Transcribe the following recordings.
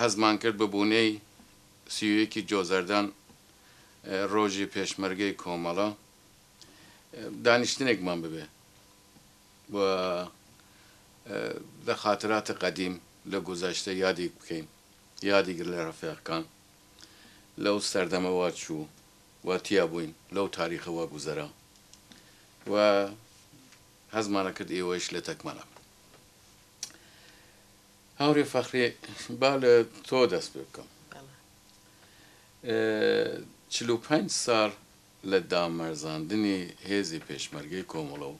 هەستمان کرد بە بوونەی سی و یەکی جۆزەردان ڕۆژی پێشمەرگەی کۆمەڵە دانیشتنێکمان ببێ و لە خاتراتی قەدیم لە گوزەشتە یادیک بکەین یادیک لە ڕەفێقکان لەو سەردەمە وا چوو و تیا بووین لەو تاریخە وا گوزەرا و هەستمانە کرد ئێوەیش لەتەکمەنە. هاورێ فەخری، با لە تۆ دەست پێ بکەم. چل و پەنج ساڵ لە دامەرزاندنی هێزی پێشمەرگەی کۆمەڵە و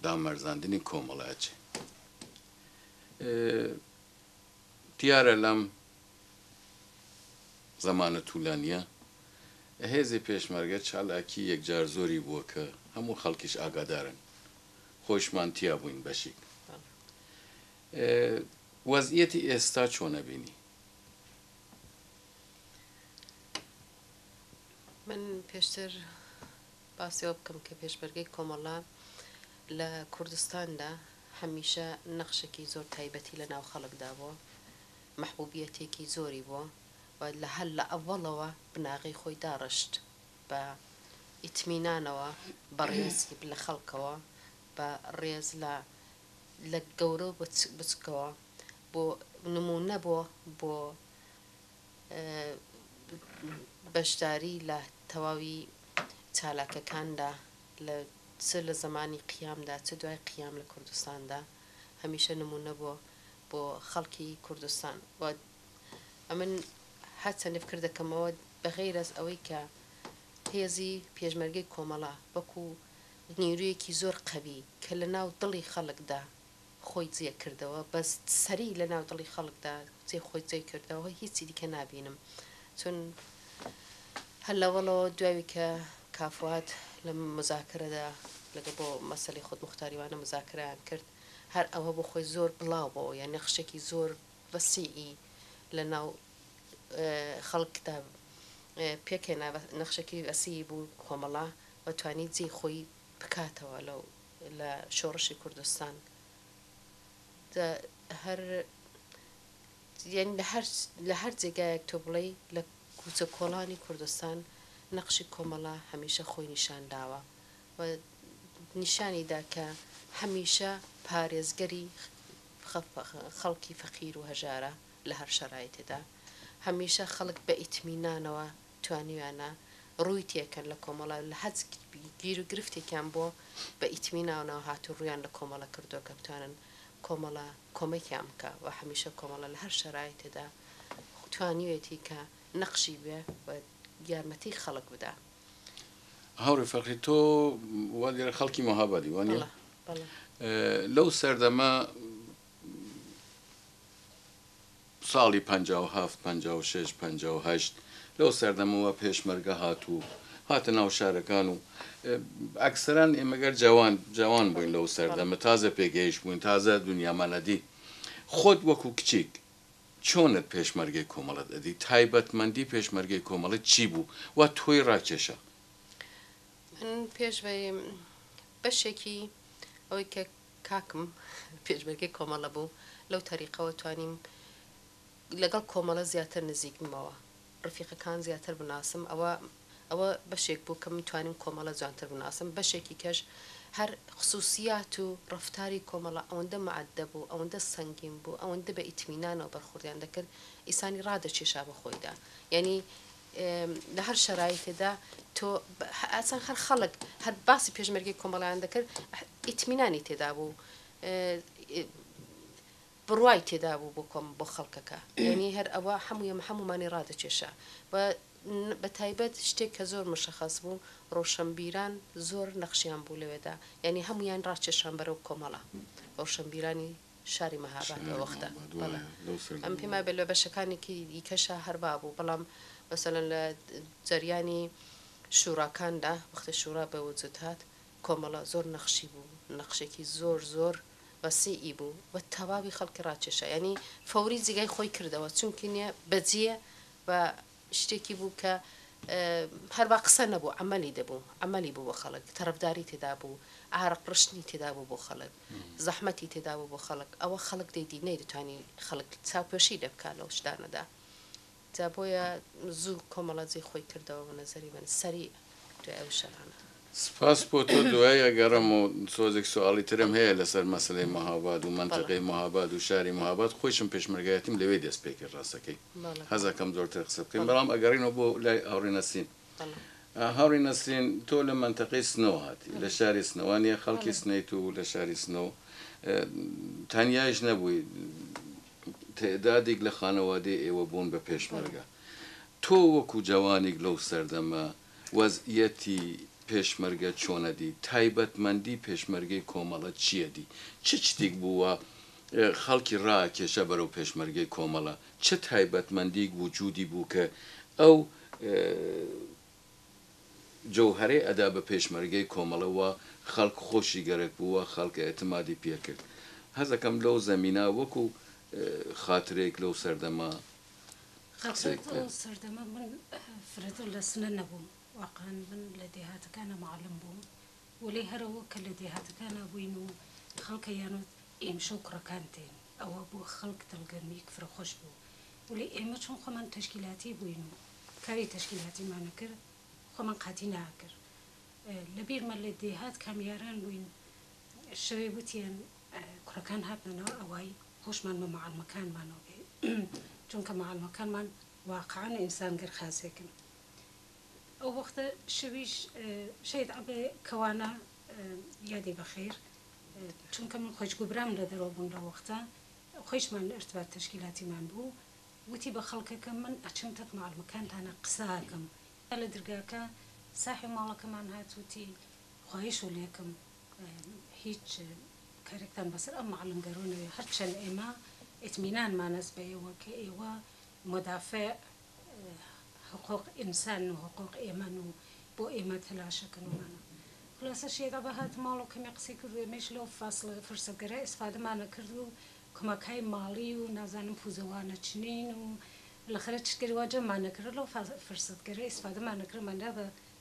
دامەرزاندنی کۆمەڵە ئەچێ. دیارە لەم زەمانە تولانیە هێزی پێشمەرگە چالاکی یەکجار زۆری بووە کە هەموو خەڵکیش ئاگادارن خۆیشمان تیا بووین بەشیک وەزئیەتی ئێستا چۆنە بینی؟ من پێشتر باسی ئەوە بکەم کە پێشمەرگەی کۆمەڵە لە کوردستاندا هەمیشە نەخشێکی زۆر تایبەتی لە ناو خەڵکدا بووە، مەحبوبیەتێکی زۆری بووە و لە هەر لە ئەوەڵەوە بناغەی خۆی داڕشت بە ئیتمینانەوە بە ڕێز لە خەڵکەوە بە ڕێز لە لە گەورە و بچکەوە بۆ نموونە بۆ بۆ بەشداری لە تەواوی چالاکەکاندا لە چ لە زەمانی قیامدا چ دوای قیام لە کوردستاندا هەمیشە نمونە بۆ بۆ خەڵکی کوردستان و ئەمن هەرچەندی فکر دەکەمەوە بەغیر ئەس ئەوەی کە هێزی پێشمەرگەی کۆمەڵە وەکو نیرویەکی زۆر قەوی کە لە ناو دڵی خەڵکدا خۆی جێ کردەوە بەس سەری لە ناو دڵی خەڵکدا جێ خۆی جێ کردەوە هیچی دیکە نابینم چون هەر لەوەڵەوە دوای کە کافوات لە مزاکرەدا لەگە بۆ مەسلی خود مختاریوانە مزاکران کرد هەر ئەوە بۆ خۆی زۆر بڵاو بۆ یان نەخشێکی زۆر وەسیئی لە ناو خەڵکدا پێکێنا نەخشەکی وەسی بوو کۆمەڵە و توانی جێ خۆی بکاتەوە لەو لە شۆڕشی کوردستان لە هەر جێگایەک تۆ بڵێی لە کوچە کۆڵانی کوردستان نەقشی کۆمەڵە هەمیشە خۆی نیشان داوە و نیشانی دا کە هەمیشە پارێزگەری خەڵکی فەقیر و هەژارە لە هەر شەرایتێدا هەمیشە خەڵک بە ئیتمینانەوە توانیویانە ڕووی تێکەن لە کۆمەڵە و لە هەچ گیر و گرفتێکیان بۆ بە ئیتمی ناوناو هات و ڕوویان لە کۆمەڵە کردووە کە بتوانن کۆمەڵە کۆمەکیان بکا و هەمیشە کۆمەڵە لە هەر شەرایتێدا توانیوێتی کە نەقشی بێ و یارمەتی خەڵک بدا. هاوڕێ فەرخی تۆ وا دیارە خەڵکی مەهابادی وا نیە؟ بەڵێ بەڵێ. لەو سەردەمە، ساڵی پەنجا و هەفت، پەنجا و شەش، پەنجا و هەشت لەو سەردەمەوە پێشمەرگە هات و هاتە ناو شارەکان و ئەکسەران ئێمە گەر جەوان جەوان بووین لەو سەردەمە تازە پێگەیشت بووین تازە دنیامان ئەدی خۆت وەکو کچیک چۆنت پێشمەرگەی کۆمەڵت ئەدی تایبەتمەندی پێشمەرگەی کۆمەڵت چی بوو وا تۆی ڕاکێشا؟ من پێش ڤەی بەشێکی ئەوەی کە کاکم پێشمەرگەی کۆمەڵە بوو، لەو تەریقەوە توانیم لەگەڵ کۆمەڵە زیاتر نزیک بمەوە، ڕفیقەکان زیاتر بناسم، ئەوە ئەوە بەشێک بوو کە من توانیم کۆمەڵە جوانتر بناسم، بەشێکی کەش هەر خسووسیات و ڕەفتاری کۆمەڵە ئەوەندە مەئەدەب و ئەوەندە سەنگین بوو، ئەوەندە بە ئیتمینانەوە بەرخوردیان دەکرد، ئیسانی ڕادەکێشا بە خۆیدا، یانی لە هەر شەرایتێدا تۆ ئاسان هەر خەڵک هەر باسی پێشمەرگی کۆمەڵیان دەکرد ئیتمینانی تێدا بوو بڕوای تێدا بوو بۆ کۆم بۆ خەڵکەکە یعنی هەر ئەوە هەموویە هەمومانی ڕادەکێشا و بە تایبەت شتێک کە زۆر مشەخەس بوو ڕۆشنبیران زۆر نەخشیان بوو لەوێدا یعنی هەمویان ڕاکێشان بەرەو کۆمەڵە ڕۆشنبیرانی شاری مهاباد ئەو وەختە بەڵێ ئەم پێم وایە لە بەشەکانێکی دیکەشا هەر وا بوو بەڵام مەسەلەن لە جەریانی شوراکاندا وەختە شورا بە وجود هات کۆمەڵە زۆر نەخشی بوو نەخشێکی زۆر زۆر وەسیعی بوو و تەواوی خەڵکی ڕاکێشا یانی فەوری جێگای خۆی کردەوە چونکی نیە بەجێ بە شتێکی بوو کە هەر وا قسە نەبوو عەمەلی دەبوو، عەمەلی بوو بۆ خەڵک، تەرەفداری تێدا بوو، عارەق ڕشتنی تێدا بوو بۆ خەڵک، زەحمەتی تێدا بوو بۆ خەڵک، ئەوە خەڵک دەیدی نەیدەتوانی خەڵک چاوپۆشی لێ بکا لەو شتانەدا، جا بۆیە زوو کۆمەڵە جێی خۆی کردەوە بە نەزەری من سەریع. دوای ئەو شەرانە. سپاس بۆ تۆ دوایی ئەگەڕێم و تۆزێک سواڵی ترم هەیە لەسەر مەسەلەی مهاباد و مەنتەقەی مهاباد و شاری مهاباد خۆیشم پێشمەرگایەتیم لەوێ دەست پێکرد ڕاستەکەی حەز ئەکەم زۆرتر قسە بکەین بەڵام ئەگەڕێینەوە بۆ لای هاوڕێ نەسرین هاوڕێ نەسرین تۆ لە مەنتەقەی سنەوە هاتی لە شاری سنەوە نیە خەڵکی سنەیت و لە شاری سنەوە تەنیایش نەبووی تعدادێک لە خانەوادەی ئێوە بوون بە پێشمەرگە تۆ وەکو جەوانیک لەو سەردەمە وەز یەتی پێشمەرگە چۆنەدی؟ تایبەت مەندی پێشمەرگەی کۆمەڵە چیەدی؟ چ چتیک بوو وا خەڵکی ڕاکێشا بەرەو پێشمەرگەی کۆمەڵە؟ چ تایبەت مەندیک وجودی بوو کە ئەو جەوهەرەی ئەدا بە پێشمەرگەی کۆمەڵە وا خەڵک خۆشی گەرەک بوو وا خەڵک ئێتمادی پێ کرد؟ هەزەکەم لەو زەمینە وەکو خاترەیک لەو سەردەمە. قسەیەک بکەن. ئەو سەردەمە من فرەتر لە سنە نەبووم، واقعەن من لە دێهاتەکانا معەلم بووم، وەلێ هەر ئەوە کە لە دێهاتەکانا بووین و خەڵکەیان وت ئێمشە و کوڕەکان دێن، ئەوە بۆ خەڵک دڵگەرمییەک فرە خۆش بوو، وەلێ ئێمە چون خۆمان تەشکیلاتی بووین و کاری تەشکیلاتیمان ئەکرد، خۆمان قاتی ناکرد. لە بیرمە لە دێهات کامیاران بووین، شەوێ وتیان کوڕەکان هاتنەوە ئەوای هۆشمان بە معەلمەکانمانەوە بێ چونکە معەلمەکانمان واقعەن ئینسان گەر خاسێکن ئەو وەختە شەویش شەید عەبێ کەوانە یادی بەخیر چونکە من خۆش گوبرام لە دەرەوە بوون لە وەختە خۆشمان ارتباط تشکیلاتیمان بوو وتی بە خەڵکەکە من ئەچم تەک معەلمەکانتانە قساکەم لە درگاکە ساحێ ماڵەکەمان هات وتی خوایش و لێکم. هیچ کارێکتان بەسەر ئەم معلم گەرۆ نەوێ هەرچەن ئێمە ئیتمینانمان هەس بە ئێوە کە ئێوە مدافع حقوق ئینسان و حقوق ئێمەن و بۆ ئێمە تەلاشە کەن و مانە خولاسە شێت عەبە هات ماڵ و کەمێ قسەی کرد و ئێمەیش لەو فاسڵە فرسەت گەرا ئیسفادەمانە کرد و کمەکای ماڵی و نازانم پوزەوانە چنین و بلخرە چشتگەری وا جەممانە کرد لەو فرسەت گەرا ئیسفادەمانە کرد مەندا بە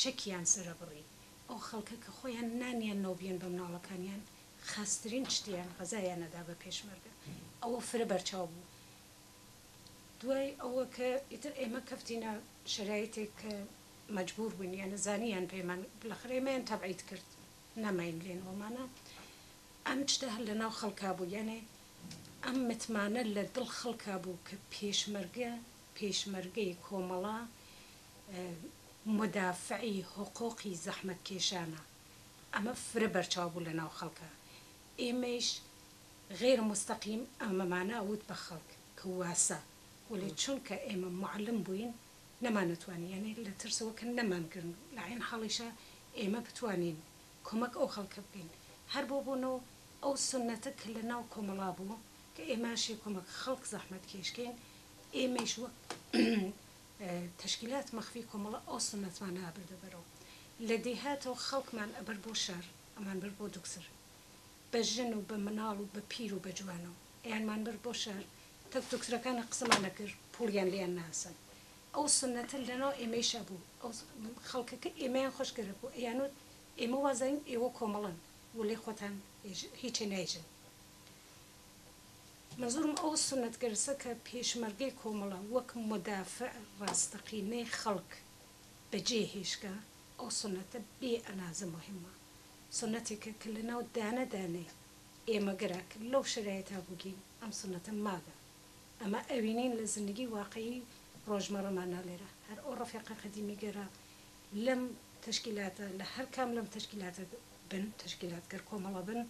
شەکیان سەرەبڕی ئەو خەڵکە کە خۆیان نانیان نەوبیەن بەمناڵەکانیان خاسترین شتیان غەزایان نەدا بە پێشمەرگە ئەوە فرە بەرچاو بوو دوای ئەوە کە ئیتر ئێمە کەفتینە شەرایتێک کە مەجبور بووین یانە زانیان پێمان بلەخر ئێمەیان تەبعید کرد نەماین لێن وەمانە ئەم شتە هەر لەناو خەڵکا بوو یانێ ئەم متمانە لە دڵ خەڵکا بوو کە پێشمەرگە پێشمەرگەی کۆمەڵە مودافعی حقوقی زەحمەتکێشانە، ئەمە فرە بەرچاو بوو لەناو خەڵکا، ئێمەیش غەیرە موستەقیم ئەمەمانە ئەوت بە خەڵک کە واسە، وەلێ چونکە ئێمە موعەلم بووین نەمانەتوانی یانی لە ترسەوە کە نەمانگرن و لە عەین حاڵیشا ئێمە بتوانین کۆمەک ئەو خەڵکە بکەین هەر بۆ بوون و ئەو سوننەتە کە لەناو کۆمەڵا بوو کە ئێمەشی کۆمەک خەڵک زەحمەتکێشکەین ئێمەیش وەک تەشکیلات مەخفی کۆمەڵە ئەو سوننەتمانە ئەبردە بەرەو لە دێهاتەوە خەڵکمان ئەبرد بۆ شار ئەمان برد بۆ دوکتر بە ژن و بە مناڵ و بە پیر و بە جوانەوە ئەیانمان برد بۆ شار تەک دوکترەکانە قسەمان ئەکرد پوڵیان لێیان ناسەند ئەو سوننەتە لەناو ئێمەیشا بوو ئەو خەڵکەکە ئێمەیان خۆش گەرەک بوو ئەیانوت ئێمە وازانین ئێوە کۆمەڵەن ولێ خۆتان هیچێ نایژن. مەزوورم ئەو سوننەتگەرسە کە پێشمەرگەی کۆمەڵە وەک مودافع ڕاستەقینەی خەڵک بە جێ هێشتگە، ئەو سوننەتە بێ ئەنازە موهیمە، سوننەتێکە کە لەناو دانە دانەی ئێمە گەرا کە لەو شەرایتا بووگین ئەم سوننەتە ماگە. ئەمە ئەوینین لە زندگی واقعی ڕۆژمەڕەمان نا لێرە هەر ئەو ڕەفێقە قەدیمی گەرا لەم تەشکیلاتە لە هەر کام لەم تەشکیلاتە بن، تەشکیلاتگەر کۆمەڵە بن،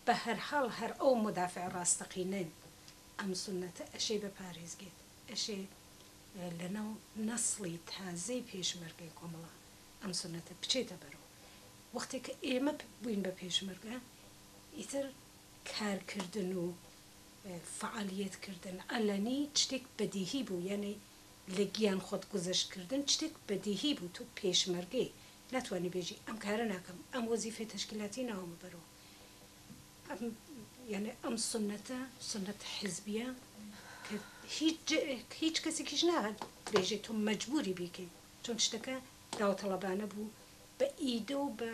بەهەرحاڵ هەر ئەو مدافع ڕاستەقینەی ئەم سوننەتە ئەشێ بە پارێزگێت، ئەشێ لەناو نەسڵی تازەی پێشمەرگەی کۆمەڵە ئەم سوننەتە بچێتە بەرو. وەختێ کە ئێمە بووین بە پێشمەرگە ئیتر کارکردن و فەعالیەت کردن عەلەنی شتێک بەدیهی بوو، یانی لە گیان خۆت گوزەشت کردن شتێک بەدیهی بوو، تۆ پێشمەرگەی ناتوانی بێژی ئەم کارە ناکەم، ئەم وەزیفەی تەشکیلاتی ناومە بەرو. یەعنی ئەم سوننەتە سوننەتە حیزبیە کە هیچ هیچ کەسێکیش نابێژێت تۆ مەجبوری بیکەی چۆن شتەکە داوەتەڵەبانە بوو بە ئیدە و بە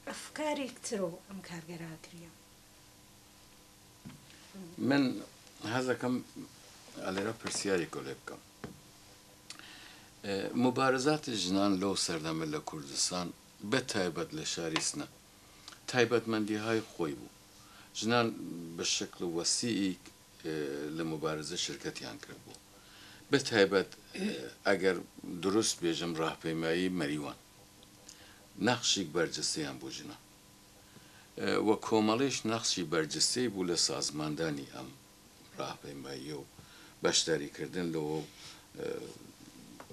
ئەفکارێک ترۆ ئەم کارگەرا کریە من هەزەکەم ئەلێرە پرسیاری گۆلێ بکەم مبارزات ژنان لەو سەردەمە لە کوردستان بە تایبەت لە شاری سنە تایبەتمەندیهای خۆی بوو. ژنان بە شکل وەسییک لە موبارزە شرکەتیان کردبوو. بە تایبەت ئەگەر دروست بێژم راهپەیمایی مەریوان نەخشیک بەرجستەیان بوو ژنان و کۆمەڵیش نەخشی بەرجستەی بوو لە سازماندانی ئەم راهپەیماییە و بەشداری کردن لەوە و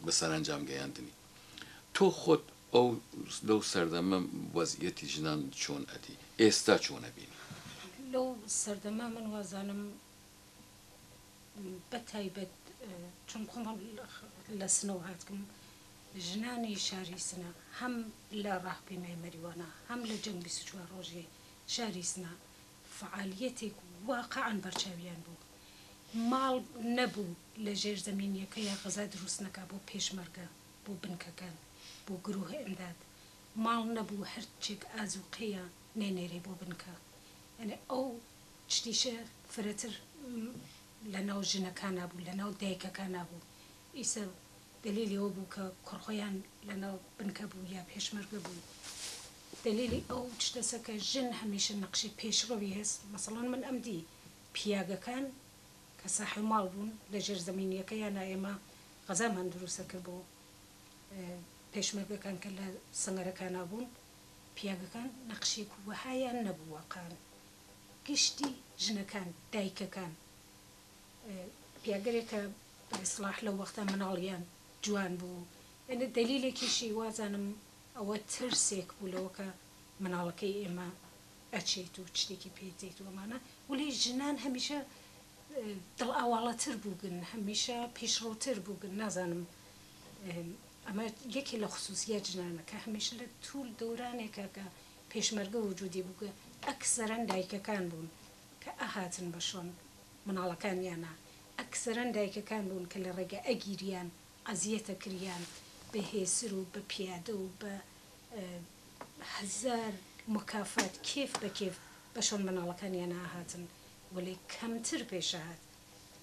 بە سەرەنجام گەیاندنی. تۆ خۆت ئەو لەو سەردەمە وەزعیەتی ژنان چۆن ئەدی؟ ئێستا چۆن ئەبینی؟ لەو سەردەمە من وازانم بە تایبەت چون خۆم لە سنەوە هاتکم ژنانی شاری سنە هەم لە ڕاهپەیمای مەریوانە هەم لە جەنگ بیست و چوار ڕۆژی شاری سنە فەعالیەتێک واقعەن بەرچاویان بوو ماڵ نەبوو لە ژێر زەمینیەکەیا غەزا دروست نەکا بۆ پێشمەرگە بۆ بنکەکان بۆ گروه امداد ماڵ نەبوو هەرچێک ئازوقەیە نەینێرێ بۆ بنکە یانی ئەو چتیشە فرەتر لە ناو ژنەکانا بوو لە ناو دایکەکانا بوو ئیسە دەلیلی ئەوە بوو کە کوڕ خۆیان لە ناو بنکە بوو یا پێشمەرگە بوو دەلیلی ئەو تشتەسە کە ژن هەمیشە نەقشی پێشڕەوی هەس مەسەڵەن من ئەم دی پیاگەکان کە ساحێ ماڵ بوون لە ژێر زەمینیەکەیانا ئێمە غەزامان دروست ئەکرد بۆ پێشمەرگەکان کە لە سەنگەرەکانا بوون پیاگەکان نەقشێک وەهایان نەبوو وەقان گشتی ژنەکان دایکەکان پێگەرێک کە بە ئیسڵاح لەو وەختە مناڵیان جوان بوو یانی دەلیلێکیشی وازانم ئەوە ترسێک بوو لەوە کە مناڵەکەی ئێمە ئەچێت و چتێکی پێ دێت و ئەمانە وەلی ژنان هەمیشە دڵ ئاواڵەتر بووگن هەمیشە پیشڕووتر بووگن نازانم ئەمە یەکێ لە خسووسیات ژنانە کە هەمیشە لە توول دۆرانێکا کە پێشمەرگە وجوودی بووگە ئەکسەرەن دایکەکان بوون کە ئەهاتن بە شۆن مناڵەکانیانا ئەکسەرەن دایکەکان بوون کە لە ڕێگە ئەگیریان ئەزیەت ئەکریان بە هێسر و بە پیادە و بە هەزار مکافات کێف بە کێف بە شۆن مناڵەکانیانا ئەهاتن وەلێ کەمتر پێش ئەهات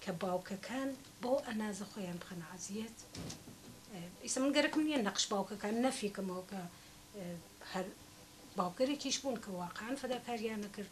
کە باوکەکان بەو ئەنازە خۆیان بخەنە ئەزیەت ئیسە من گەرەکم نیە نەقش باوکەکان نەفی کەمەوە کە هەر باوکەرێکیش بوون کە واقعەن فەداکاریان ئەکرد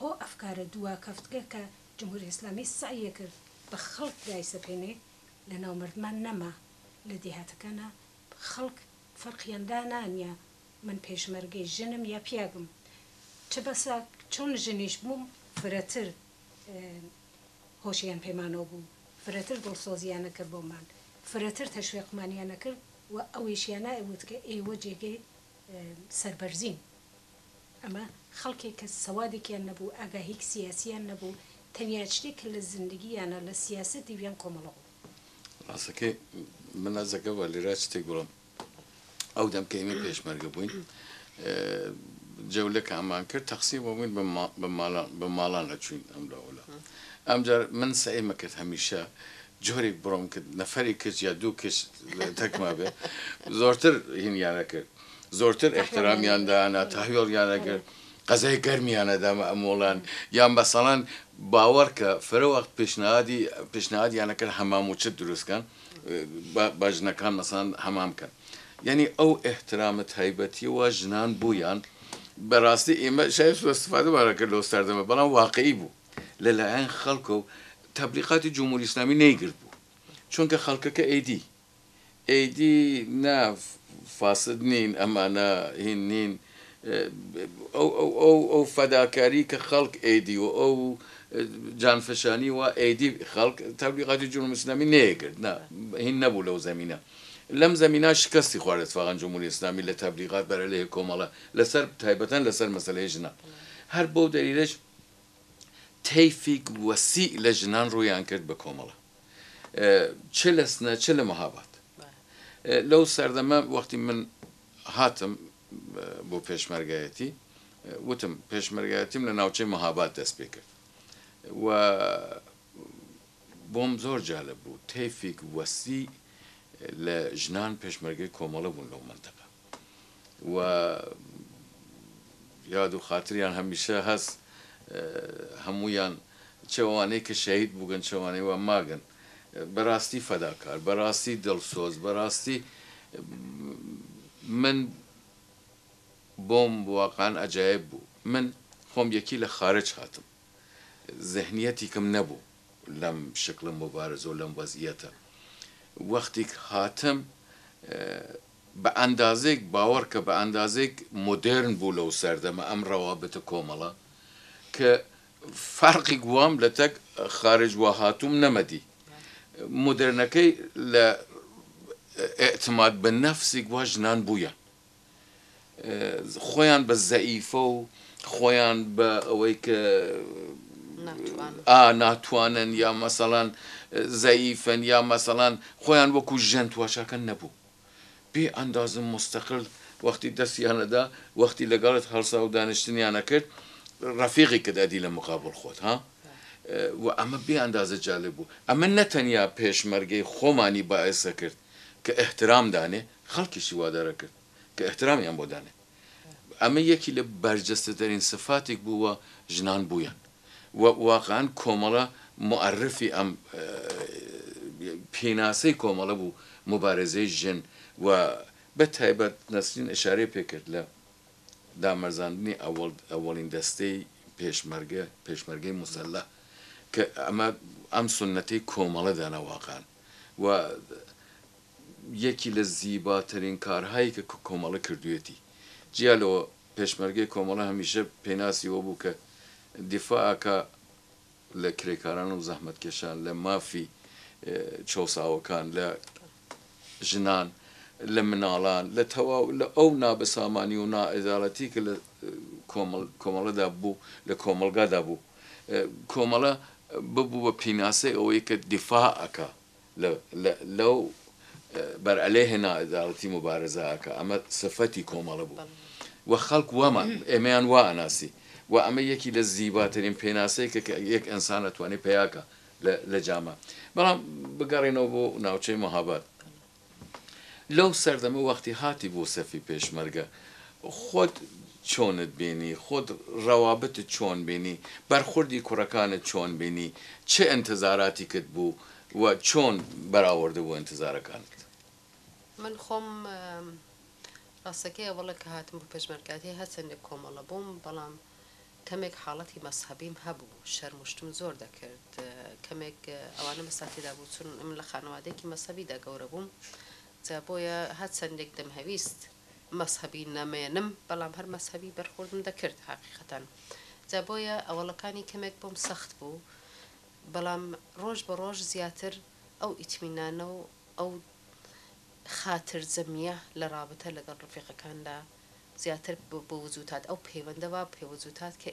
ئەو ئەفکارە دواکەفتگە کە جمهوری ئیسلامی سەعیی کرد بە خەڵک دایسەپێنێ لە ناو مەردمان نەما لە دێهاتەکانا خەڵک فەرقیان دانانیا من پێشمەرگەی ژنم یا پیاگم چ بەسە چۆن ژنیش بووم فرەتر هۆشیان پێمانەوە بوو فرەتر دڵسۆزیان ئەکرد بۆمان فرەتر تەشوێقمانیان ئەکرد و ئەویشیانا ئەوت کە ئێوە جێگەی سەربەرزین. ئەمە خەڵکێک کە سەوادێکیان نەبوو، ئاگاهیک سیاسیان نەبوو، تەنیا شتێک کە لە زندگییانا لە سیاسەت دیویان کۆمەڵە بوو. ڕاستەکەی من ئەرز ئەکەم و لێرا شتێک بڵێم، ئەو دەم کە ئێمەی پێشمەرگە بووین، جەولە کە ئەمان کرد، تەقسیم ئەبووین بە ما، بە مالان، بە ماڵان ئەچووین ئەم لا ئەو لا. ئەمجار من سەعیمە کرد هەمیشە جۆرێک بڕۆم کە نەفەرێک کچ یا دوو کچ تەکما بێ، زۆرتر هینیان ئەکرد. زۆرتر ئیحترامیان دانا تاوێڵیان ئەگرت قەزای گەرمیانە دەمە ئەمۆڵان یان بەسەڵان باوەڕکە فرە وەخت پێشنادی پێشنادیانەکەن هەمام و چت دروستکەن بە ژنەکان مەسان هەمام کەن یعنی ئەو ئەحترامە تایبەتیەوە ژنان بوویان بەڕاستی ئێمە شای سوستفادەمانەکە لۆ ساردەمە بەڵام واقعی بوو لەلایەن خەڵکە و تەبلیقاتی جمهوری ئسلامی نەیگرت بوو چونکە خەڵکەکە ئەیدی ئێیدی نا فاسد نین ئەمانە هین نین ئەو ئەو فەداکاری کە خەڵک ئێیدی و ئەو جانفشانی وا ئێیدی خەڵک تەبلیغاتی جمهوری اسلامی نێیگرت نا هین نەبوو لەو زەمینە لەم زەمینە شکەستی خوارد اتفاقا جمهوری اسلامی لە تەبلیغات بەرەلەێ کۆمەڵە لەسەر تایبەتەن لەسەر مەسەلەێ ژنان هەر بەو دەلیلەش تەیفیک وەسیع لە ژنان ڕوویان کرد بە کۆمەڵە. چ لە سنە چ لە مهاباد. لەو سەردەمە وەختی من هاتم بۆ پێشمەرگایەتی وتم پێشمەرگایەتیم لە ناوچەی مهاباد دەست پێ کرد و بۆم زۆر جالب بوو تەیفیک وەستی لە ژنان پێشمەرگەی کۆمەڵە بوون لەو مەنتەقە. و یاد و خاتریان هەمیشە هەس هەموویان چ ئەوانەی کە شەهید بووگن چ ئەوانەی وا ماگن بەراستی فەداکار بەراستی دڵسۆز بەراستی من بۆم واقعەن ئەجایب بوو من خۆم یەکی لە خارج هاتم زهنیەتیکم نەبوو لەم شکڵ موبارزە و لەم وەزیەتە وەختیک هاتم بە ئەندازەیەک باوەڕکە بە ئەندازەیەک مۆدێرن بوو لەو سەردەمە ئەم ڕەوابتە کۆمەڵە کە فەرقیک وام لە تەک خارج وا هاتووم نەمەدی مۆدێرنەکەی لە ئیعتماد بە نەفسیک وا ژنان بوویان خۆیان بە زەئیفە و خۆیان بە ئەوەی کە ناتوانن یا مەسەڵەن زەئیفن یا مەسەڵەن خۆیان وەکوو ژن تواشاکەن نەبوو. بێ ئەندازە موستەقل وەختی دەستیان ئەدا وەختی لەگەڵت هەڵساو دانیشتنیان ئەکرد ڕەفیقیکت ئەدی لە مقابڵ خۆت ها وە ئەمە بێ ئەندازە جالب بوو ئەمە نەتەنیا پێشمەرگەی خۆمانی بائس ئەکرد کە ئیحترام دانێ خەڵکیشی وادار ئەکرد کە ئیحترامیان بۆ دانێ ئەمە یەکی لە بەرجەستەترین سفاتیک بوو وە ژنان بوویان. و واقعەن کۆمەڵە موئەررفی ئەم پیناسەی کۆمەڵە بوو موبارزەی ژن و بە تایبەت نەسرین ئشارەی پێ کرد لە دامەرزاندنی ئەوەڵین دەستەی پێشمەرگە پێشمەرگەی موسەلەح کە ئەمە ئەم سونەتەی کۆمەڵە دانا واقعەن و یەکی لە زیباترین کارهایی کە کۆمەڵە کردوێتی جیا لەوە پێشمەرگەی کۆمەڵە هەمیشە پێناسی وە بوو کە دیفاع ئەکا لە کرێکاران و زەحمەتکێشان، لە مافی چەوساوەکان، لە ژنان، لە مناڵان، لە تەواو لە ئەو نابەسامانی و ناعەدالەتی کە لە کۆمەڵەدا بوو، لە کۆمەڵگادا بوو. کۆمەڵە ببوو بە پیناسەی ئەوەی کە دیفاع ئەکا. لەو بەر ئەلێ هێنا ئەداڵەتی موبارزە ئەکا ئەمە سفەتی کۆمەڵە بوو و خەڵک وامان ئێمەیان وا ئەناسی و ئەمە یەکی لە زیباترین پێناسەی کە یەک ئەنسان ئەتوانێ پەیا کا لە جامە بەڵام بگەڕێنەوە بۆ ناوچەی مهاباد لەو سەردەمە وەختی هاتی بۆ سەفی پێشمەرگە خۆت چۆنت بینی خۆت ڕەوابتت چۆن بینی بەرخوردی کوڕەکانت چۆن بینی چ ئینتزاراتیکت بوو و چۆن بەراوردە بۆ ئینتزارەکانت. من خۆم ڕاستەکەیە وەڵە کە هاتم بۆ پێشمەرگاتی هەرچەندێک کۆمەڵە بووم بەڵام کەمێک حاڵەتی مەزهەبیم هەبوو شەرم و شتم زۆر دەکرد کەمێک ئەوانە مەسا تێدا بوو چون من لە خانەوادەیەکی مەزهەبیدا گەورە بووم جا بۆیە هەر چەندێک دەمهەویست مەزهەبی نەمێنم بەڵام هەر مەزهەبی بەرخوردم دەکرد هەقیقەتەن جا بۆیە ئەوەڵەکانی کەمێک بۆم سەخت بوو بەڵام ڕۆژ بە ڕۆژ زیاتر ئەو ئیتمینانە و ئەو خاتر جەمیە لە ڕابتە لەگەڵ ڕفیقەکاندا زیاتر بۆ وجوتات ئەو پەیوەندە وا پێ وجوتات کە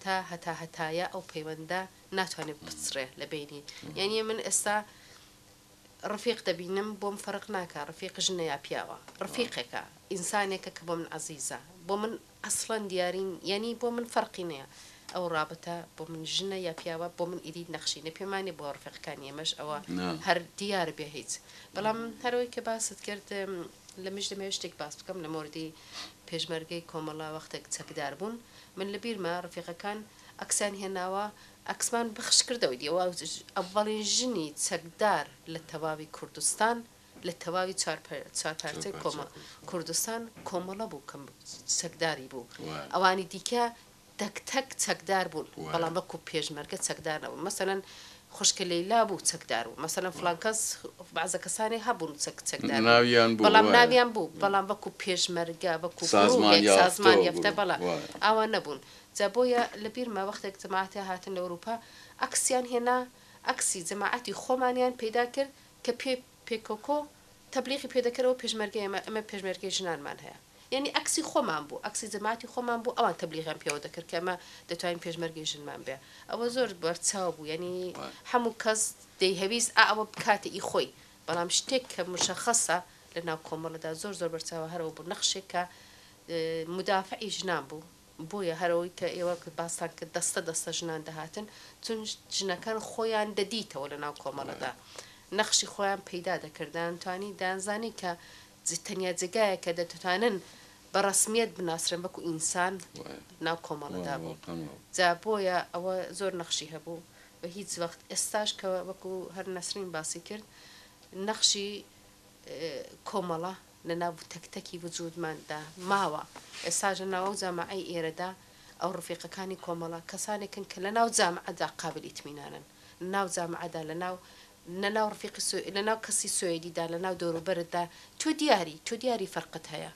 تا هەتا هەتایە ئەو پەیوەندە ناتوانێت بچڕێ لە بەینی یانە من ئێستا ڕفیق دەبینم بۆم فەرق ناکە ڕفیق ژنە یا پیاوە ڕفیقێکە ئینسانێکە کە بۆ من عەزیزە بۆ من ئەسڵەن دیارین یانی بۆ من فەرقی نییە ئەو ڕابتە بۆ من ژنە یا پیاوە بۆ من ئیدی نەخشینە پێمانێ بۆ ڕفێقەکانی ئێمەش ئەوە هەر دیار بێ هیچ بەڵام هەرەوەی کە باست کرد لەمەش دەمەوێت شتێک باس بکەم لە مۆردی پێشمەرگەی کۆمەڵە وەختێک چەکدار بوون من لە بیرمە ڕفیقەکان ئەکسیان هێناوە ئەکسمان بخش کردەوە دی ئەوە ئەڤەڵین ژنی چەکدار لە تەواوی کوردستان لە تەواوی چوار چوار پارچەی کۆمە کوردستان کۆمەڵە بوو کەم چەکداری بوو ئەوانی دیکە تەک تەک چەکدار بوون بەڵام وەکو پێشمەرگە چەکدار نەبوون مەسەلەن خوشکە لەیلا بوو چەکدار بوو مەسەلەن فڵان کەس بەعزە کەسانی هەبوون چەک چەکدار ناویان بوو بەڵام ناویان بوو بەڵام وەکو پێشمەرگە وەکو سازمان یافتە و سازمان یافتە بەڵا وایە. ئاوا نەبوون جا بۆیە لە بیرمە وەختێک جەماعەتێ هاتن لە ئەوروپا عەکسیان هێنا عەکسی جەماعەتی خۆمانیان پەیدا کرد کە پێ پێکۆکۆ تەبلیغی پێ دەکەن ئەوە پێشمەرگەیە ئێمە پێشمەرگەی ژنانمان هەیە یانی ئەکسی خۆمان بوو ئەکسی جەماتی خۆمان بوو ئەوان تەبلیغیان پێوە دەکرد کە ئەمە دەتوانین پێشمەرگەی ژنمان بێ ئەوە زۆر بەرچاو بوو یانی هەموو کەس دەیهەویست ئا ئەوە بکاتە ئی خۆی بەڵام شتێک کە مشەخەسە لە ناو کۆمەڵەدا زۆر زۆر بەرچاوە هەرەوە بوو نەخشێک کە مدافعی ژنان بوو بۆیە هەرەوەی کە ئێوە باستان کرد دەستە دەستە ژنان دەهاتن چون ژنەکان خۆیان دەدیتەوە لە ناو کۆمەڵەدا نەخشی خۆیان پەیدا دەکردان توانی دانزانی کە تەنیا جێگایەک کە دەتوانن بە ڕەسمییەت بناسرێن وەکو ئینسان ناو کۆمەڵەدا بوو جا بۆیە ئەوە زۆر نەخشی هەبوو و هیچ وەخت ئێستاش کە وەکو هەر نەسرین باسی کرد نەخشی کۆمەڵە لە ناو تەک تەکی وجودماندا ماوە ئێستاش لە ناوەو جامعەی ئێرەدا ئەو ڕفیقەکانی کۆمەڵە کەسانێکن کە لە ناو جامعەدا قابل ئیتمینانن ناو جامعەدا لە ناو لە ناو ڕفیقی سوێ لە ناو کەسی سوێدی دا لە ناو دەورو بەرت دا تۆ دیاری تۆ دیاری فەرقت هەیە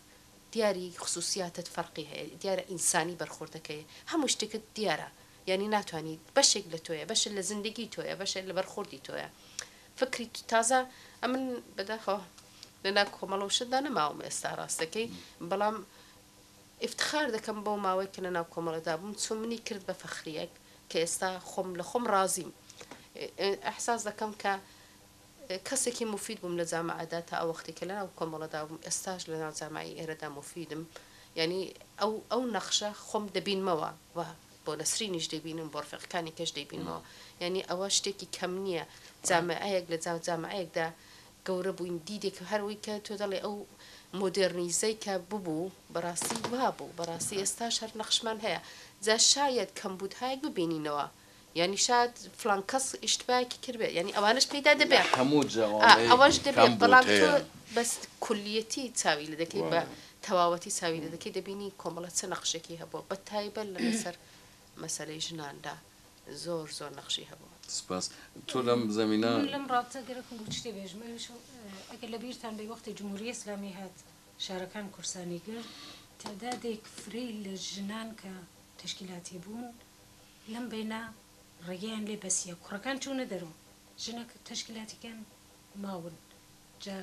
دیاری خسوسیاتت فەرقی هەیە دیارە ئینسانی بەرخۆرد دەکەی هەموو شتێکت دیارە یانی ناتوانی بەشێک لە تۆیە بەشە لە زندگی تۆیە بەشە لە بەرخۆردی تۆیە فکری تازە ئەمن بەداخەوە لە ناو کۆمەڵە و شت دا نەماوم ئێستا ڕاستەکەی بەڵام ئیفتخار دەکەم بەو ماوەی کە لەناو کۆمەڵەدا بووم چون منی کرد بە فەخرییەک کە ئێستا خۆم لە خۆم ڕازیم ئیحساس دەکەم کە کەسێکی موفید بووم لە جامەعەدا تا ئەو وەختی کە لەناو کۆمەڵەدا بووم ئێستاش لەناو جامەعی ئێرەدا موفیدم یانی ئەو ئەو نەخشە خۆم دەبینمەوە و بۆ نەسرینیش دەیبینم بۆ ڕفێقەکانیکەش دەیبینمەوە یانی ئەوە شتێکی کەم نییە جامەعەیەک لە جامەعەیەکدا گەورە بووین دیدێک هەر وەی کە تۆ دەڵێ ئەو مۆدێرنیزەی کە ببوو بەڕاستی وابوو بەڕاستی ئێستاش هەر نەخشمان هەیە جا شایەد کەمبوودهایەک ببینینەوە یانی شاد فلان کەس ئیشتباکی کردبێت یانی ئەوانەش پێیدا دەبێ لە هەموو جەوانەی ئەوەش دەبێت بەڵام تۆ کەمبوودهەیە. بەس کولیەتی چاوی لێ دەکەی بە وایە. تەواوەتی چاوی لێ دەکەی دەبینی کۆمەڵە چ نەخشێکی هەبووە بە تایبەت لەمەسەر مەسەلەی ژناندا زۆر زۆر نەخشی هەبوو. سپاس. تۆ لەم زەمینە. من لەم ڕاپتە گەرەکم بوو شتێ بێژم ئەویش ئەگەر لە بیرتان بێ وەختی جمهوری ئیسلامی هات شارەکان قورسانی گرت تەعدادێک فرەی لە ژنان کە تەشکیلاتی بوون لەم بەینە ڕێگەیان لێ بەسیە کوڕەکان چوونە دەرەوە ژنە تەشکیلاتیکان ماون جا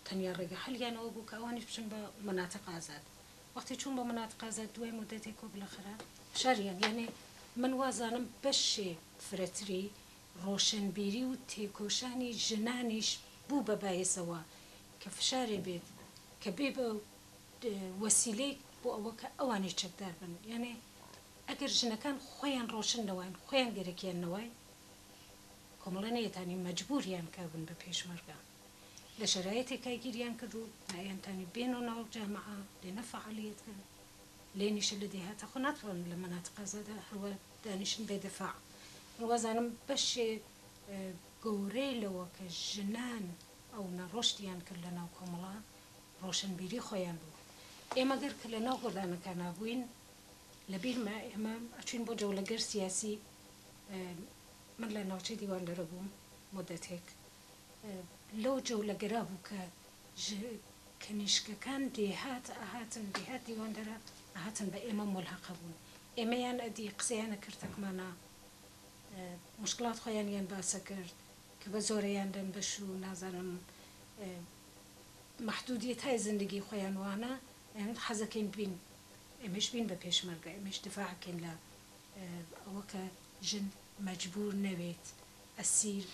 تەنیا ڕێگە حەلیان ئەوە بوو کە ئەوانیش بچن بە مەناتق ئازاد وەختی چووم بۆ مناتقە ئازاد دوای مودەتێک وەک لە خرە شاریان یەعنی من وازانم بەشێ فرەتری ڕۆشەنبیری و تێکۆشانی ژنانیش بوو بە بایەسەوە کە فشارێ بێت کە بێ بە وەسیلەیک بۆ ئەوە کە ئەوانیش چەکدار بن یەعنی ئەگەر ژنەکان خۆیان ڕۆشن نەواین خۆیان گەرەکیان نەوای کۆمەڵە نەیەتانی مەجبوریان کە بن بە پێشمەرگە. لە شەرایتێکا گیریان کرد و نایان تانی بێنۆ ناو جامعە بێنە فەعالیەت کەن لێنیشە لە دێهاتە خۆ ناتوانن لە مەناتق ئازادا هەروا دانیشن بێ دەفاع من وازانم بەشێ گەورەی لەوە کە ژنان ئەو نە ڕۆشتیان کرد لە ناو کۆمەڵە ڕۆشنبیری خۆیان بوو ئێمە گەر کە لە ناو گۆدانەکا نابووین لە بیرمە ئێمە ئەچوین بۆ جەولە گەر سیاسی من لە ناوچەی دیواندەرە بووم مودەتێک لەو جەولەگەرا بوو کە کنیشکەکان دێهات ئەهاتن، دێهات دیواندەرە ئەهاتن بە ئێمە مولهەق ئەبوون. ئێمەیان ئەدی قسەیان ئەکرد تەکمانا موشکڵات خۆیانیان باس ئەکرد کە بە زۆرەیان دەن بەش و نازانم مەحدوودیەتای زندگی خۆیان وانە ئەیانوت حەز ئەکەین بین ئێمەش بین بە پێشمەرگە ئێمەش دفاع ئەکەین لە ئەوە کە ژن مەجبوور نەبێت ئەسیر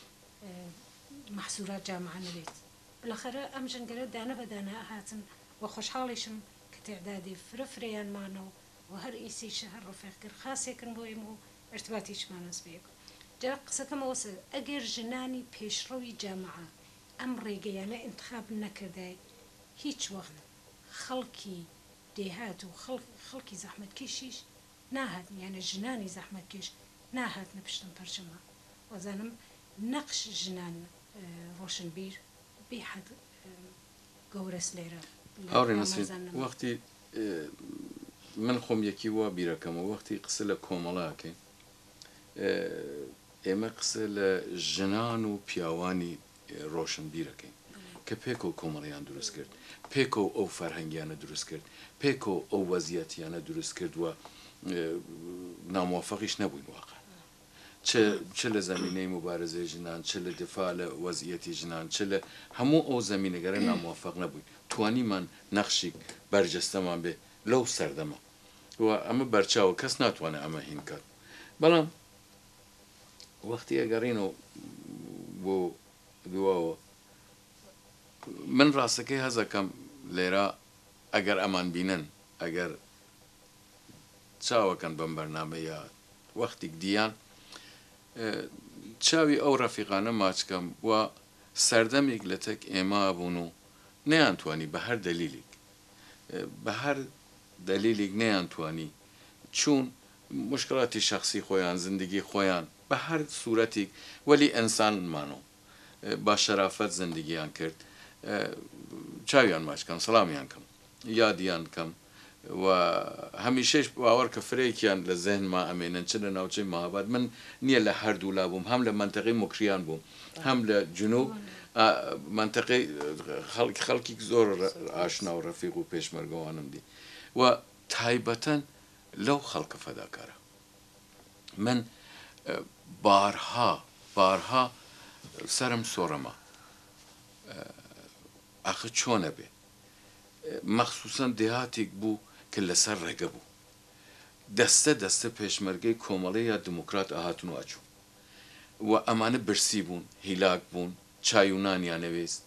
مەحسورات جامعە نەبێت بلەخەرە ئەم ژنگەرە دانە بە دانە هاتن و خۆشحاڵیشم کە تعدادی فرە فرەیان مانە و و هەر ئیسیش هەر ڕفێقگر خاسێکن بۆ ئێمە و ئرتباتیچمان هەس بە یەک جا قسەکەم ئەوەسە ئەگەر ژنانی پێشڕەوی جامعە ئەم ڕێگەیانە ئینتخاب نەکردای هیچ وەخت خەڵکی دێهات و خەڵکی زەحمەتکێشیش ناهاتن یانێ ژنانی زەحمەتکێش ناهاتنە پشتم پەرچەمە وازانم نەقش ژنان ڕۆشنبیر بی حەد گەورەس لێرە هاوڕێ نەسرین وەختی من خۆم یەکی وا بیرەکەمە وەختی قسە لە کۆمەڵاکەین ئێمە قسە لە ژنان و پیاوانی ڕۆشنبیرەکەین کە پێکەوە کۆمەڵیان دروست کرد، پێکەوە ئەو فەرهەنگیانە دروست کرد، پێکەوە ئەو وەزیەتیانە دروست کرد و نامۆفەقیش نەبووین واقع چ لە زەمینەی موبارزەی ژنان چ لە دفاع لە وەزیەتی ژنان چ لە هەموو ئەو زەمینەگەرە نامۆفەق نەبووین توانیمان نەخشیک بەرجەستەمان بێ لەو سەردەمە و ئەمە بەرچاوە کەس ناتوانێ ئەمە هین کات بەڵام وەختی ئەگەڕینەوە بۆ دواوە من ڕاستەکەی هەست ئەکەم لێرە ئەگەر ئەمان بینن ئەگەر چاوەکەن بەم بەرنامە یا وەختیک دییان چاوی ئەو ڕەفیقانە ماچ کەم وا سەردەمیک لەتەک ئێمە ئەبوون و نەیانتوانی بە هەر دەلیلیک بەهەر دەلیلیک نەیان توانی چوون موشکڵاتی شەخسی خۆیان زندگی خۆیان بەهەر سورەتیک وەلی ئەنسان مانۆ با شەرافەت زندگیان کرد چاویان ماچ کەم سڵامیان کەم یادیان کەم و هەمیشەیش باوەڕکە فرەیکیان لە زهنما ئەمێنن چ لە ناوچەی مهاباد من نیە لە هەردوولا بووم هەم لە مەنتەقەی موکریان بووم هەم لە جنوب ئا مەنتەقەی خەڵک خەڵکیک زۆر ڕ ئاشنا و ڕەفیق و پێشمەرگەوانم دی و تایبەتەن لەو خەڵکە فەداکارە من بارها بارها سەرم سۆڕما ئاخە چۆنە بێ مەخسوسەن دێهاتیک بوو کە لەسەر ڕێگە بوو دەستە دەستە پێشمەرگەی کۆمەڵی یا دموکرات ئەهاتن و ئەچوو و ئەمانە برسی بوون هیلاک بوون چای و نانیان نەویست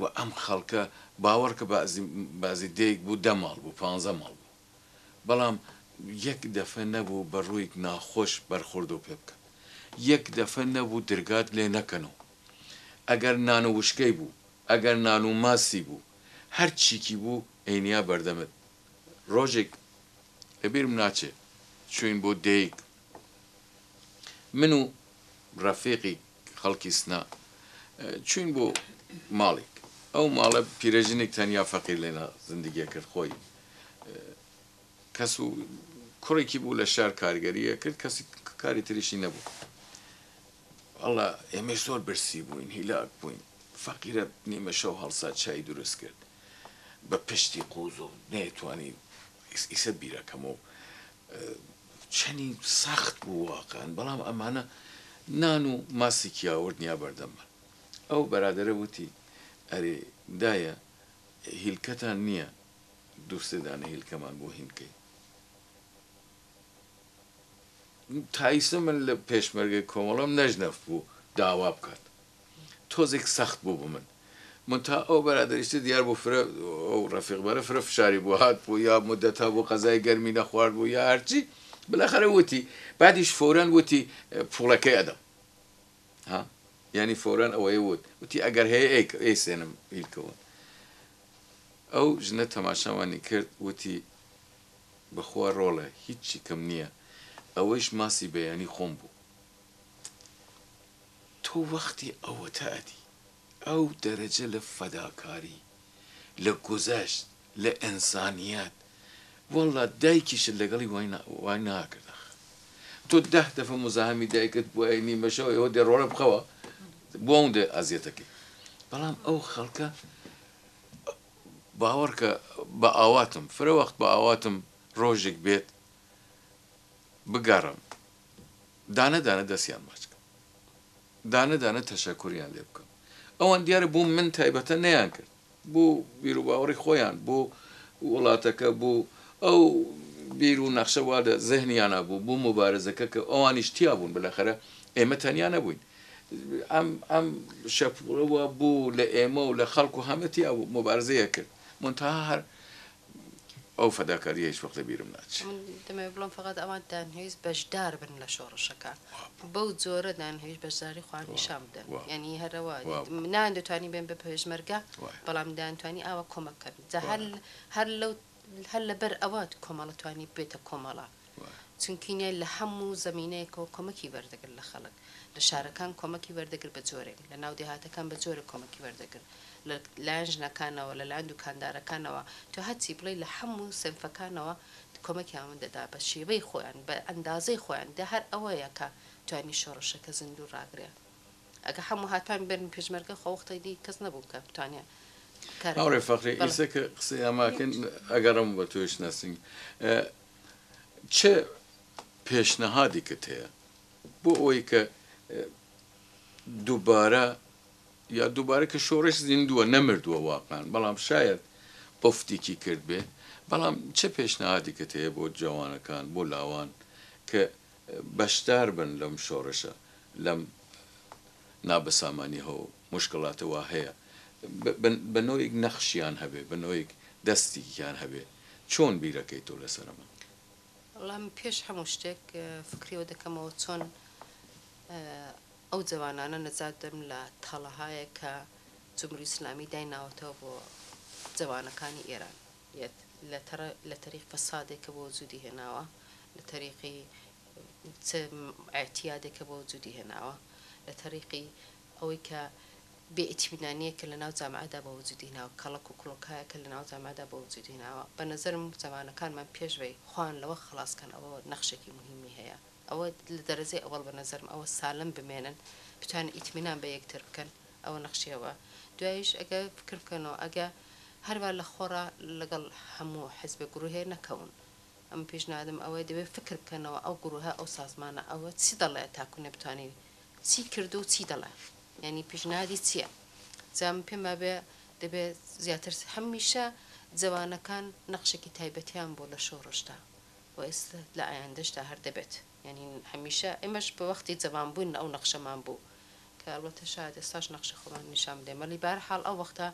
و ئەم خەڵکە باوەڕکە بەعزی بەعزی دێیک بوو دە ماڵ بوو پانزە ماڵ بوو بەڵام یەک دەفە نەبوو بە ڕوویک ناخۆش بەرخوردو پێ بکەن یەک دەفە نەبوو درگات لێ نەکەنۆ ئەگەر نان و وشکەی بوو ئەگەر نان و ماسی بوو هەر چیکی بوو ئەینیا بەردەمت ڕۆژێک لە بیرم ناچێ چووین بۆ دێیک من و ڕەفیقیک خەڵکی سنە چووین بۆ ماڵیک ئەو ماڵە پیرەژنیک تەنیا فەقیر لێنا زندگی ئەکرد خۆی کەس و کوڕیکی بوو لە شار کارگەری ئەکرد کەسی کاری تریشی نەبوو ئەڵا ئێمەش زۆر برسی بووین هیلاک بووین فەقیرە نیمە شەو هەڵسا چای دروست کرد بە پشتی قوز و نەیەتوانی ئیسە بیرەکەمەوە چەنی سەخت بوو واقعەن بەڵام ئەمانە نان و ماسیکی یاوەرت نیا بەردەممان ئەو بەرادەرە وتی ئەرێ دایە هیلکەتان نییە دوو سێ دانە هیلکەمان بۆ هین کەی تایسە من لە پێشمەرگەی کۆمەڵەم نەژنەف بوو داوا بکات تۆزێک سەخت بوو بۆ من مونتها ئەو بەرادەریشتە دیار بوو فرە ئەو ڕەفیق بەرە فرە فشاری بۆ هات بوو یا مدەت هەبوو قەزای گەرمی نەخوارد بوو یا هەرچی بلاخەرە وتی بعدیش فورەن وتی پوڵەکەی ئەدەم ها یعنی فورەن ئەوەی وت وتی ئەگەر هەیە ئەیک ئەی سێنم ئیلکەون ئەو ژنە تەماشاوانی کرد وتی بەخوا ڕۆڵە هیچی کەم نییە ئەوەیش ماسی بەیانی خۆم بوو تۆ وەختی ئەوەتە ئەدی ئەو دەرەجە لە فەداکاری لە گوزەشت لە ئەنسانیەت واللە دایکیشت لەگەڵی وای ناکرد ئەخ تۆ دە دەفە مزاحەمی دایکت بوایە نیمە شەو ئێوە دێ ڕۆڵە بخەوە بۆ ئەوندە ئەزیەتەکەی بەڵام ئەو خەڵکە باوەڕکە بە ئاواتم فرە وەخت بە ئاواتم ڕۆژێک بێت بگەڕم. دانە دانە دەستیان ماچ کەم دانە دانە تەشەکوریان لێ بکەم ئەوان دیارە بۆ من تایبەتە نەیان کرد بۆ بیروباوەڕی خۆیان بۆ وڵاتەکە بۆ ئەو بیر و نەخشە وا لە زەهنیانە بوو بۆ موبارزەکە کە ئەوانیش تیا بوون بەلەخەرە ئێمە تەنیا نەبووین ئەم ئەم شەپوڵەوە بوو لە ئێمە و لە خەڵک و هەمەتیا بوو موبارزەیە کرد منتها هەر ئەو فەداکاریە هیچ وەخت لە بیرم ناچێ. من دەمەوێ بڵێم فەقەت ئەوان دانهویست بەشدار بن لە شۆڕشەکە بەو جۆرە دانهویست بەشداری خۆیان نیشان بدەن یانی هەر ئەوە نایان دەتوانی بێن بە پێشمەرگە بەڵام دایان توانی ئاوا کۆمەک کەن جا هەر هەر لەو هەر لەبەر ئەوە کۆمەڵە توانی بێتە کۆمەڵە. چونکینە لە هەموو زەمینەیەکەوە کۆمەکی وەردەگرت لە خەڵک، لە شارەکان کۆمەکی وەردەگرت بە جۆرێک، لە ناو دێهاتەکان بە جۆرێک کۆمەکی وەردەگرت، لە لایەن ژنەکانەوە، لە لایەن دوکاندارەکانەوە، تۆ هەرچی بڵێی لە هەموو سنفەکانەوە کۆمەکیان دەدا بە شێوەی خۆیان، بە ئەندازەی خۆیان، دە هەر ئەوەیە کە توانی شۆڕشەکە زیندوو ڕاگرێ. ئەگە هەموو هاتبان بەرمی پێشمەرگە خۆ وەختێ دی کەس نەبوو کە بتوانێ کارەکە. مامرێ فەخری، ئیسە کە قسەیان ماکەن ئەگەڕێمەوە بە تۆیش نەسرین. چ پێشنەهادێکت هەیە بۆ ئەوەی کە دووبارە یا دووبارە کە شۆڕش زیندووە نەمردووە واقعان بەڵام شاید ئۆفتێکی کرد بێ بەڵام چ پێشنەهادێکت هەیە بۆ جوانەکان بۆ لاوان کە بەشدار بن لەم شۆڕشە لەم نابەسامانی هەوڵ موشکلات وا هەیە بە نۆیک نەخشیان هەبێ بە نۆیک دەستیکیان هەبێ چۆن بیرەکەی تۆ لەسەر ئەمە؟ وەڵا من پێش هەموو شتێک فکری ئەوە دەکەمەوە چۆن ئەو جەوانانە نەجات بدەم لە تەڵەهایەک کە جموری ئیسلامی دایناوەتەوە بۆ جەوانەکانی ئێران یەت لە تەڕ لە تەریق فەسادێک کە بۆ وجودی هێناوە لە تەریقی چ ئێعتیادێک کە بۆ وجودی هێناوە لە تەریقی ئەوەی کە بێ ئیتیمنانیەکە لە ناو جامعەدا بە وجودی هێناوە، کەڵەک و کڵۆکایەکە لە ناو جامعەدا بە وجودی هێناوە، بە نەزەرم زەمانەکانمان پێش بەی خۆیان لەوە خەڵاس کەن ئەوە نەخشێکی موهیمی هەیە ئەوە لە دەرەجەی ئەوەڵ بە نەزەرم ئەوە سالم بمێنن بتوانن ئیتمینان بە یەکتر بکەن ئەوە نەخشی ئەوە دوایش ئەگە فکر بکەنەوە ئەگە هەر وا لە خۆڕا لەگەڵ هەموو حزبێ گروهێ نەکەون ئەم پیشنادم ئەوەیە دەبێ فکر بکەنەوە ئەو گروهە ئەو سازمانە ئەوە چی دەڵێ تاکو نەبتوانی چی کردوە و چی دەڵێ یانی پیشنهادی چیە جا من پێم وابێ دەبێ زیاتر هەمیشە جەوانەکان نەخشێکی تایبەتیان بۆ لە شۆڕشدا و ئێستا لە ئایندەشدا هەر دەبێت یانی هەمیشە ئێمەش بە وەختی جەوان بوون ئەو نەخشەمان بوو کە ئەڵبەتە شایەد ئێستاش نەخشی خۆمان نیشان بدەین وەلی بە هەر حاڵ ئەو وەختە